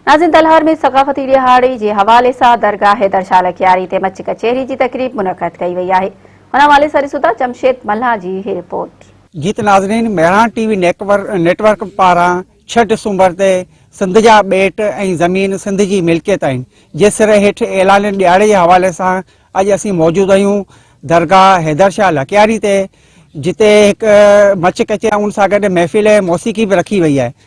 ناظرين تلهار ۾ ثقافتي ڏهاڙي جي حوالي سان درگاهه حيدر شاهه لڪياري تي مچ ڪچهري جي تقريب منعقد ڪئي وئي آهي ان حوالي سان ڏسون ٿا جمشيد ملهان جي هي رپورٽ. جيئن ته ناظرين مهراڻ ٽي وي نيٽ ورڪ پاران ڇهه ڊسمبر تي سنڌ جا ٻيٽ ۽ زمين سنڌ جي ملڪيت آهن جي سر هيٺ اعلانيل ڏيهاڙي جي حوالي سان اڄ اسين موجود آهيون درگاهه حيدر شاهه لڪياري تي جتي هڪ مچ ڪچهري ۽ ان سان گڏ محفل موسيقي به رکي وئي آهي.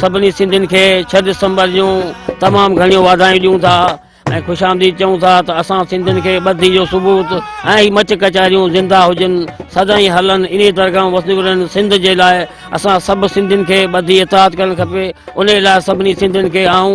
سڀني سنڌين کي ڇهه دسمبر جون تمام گهڻيون واڌايون ڏيون ٿا ۽ خوش آمديد چئون ٿا ته اسان سنڌين کي ٻڌي جو ثبوت ۽ هي مچ ڪچهريون زنده هجن سدائين هلن انهي درگاهون وسنديون رهن سنڌ جي لاء اسان سڀ سنڌين کي ٻڌي اتحاد ڪرڻ کپي انهي لاء سڀني سنڌين کي آئون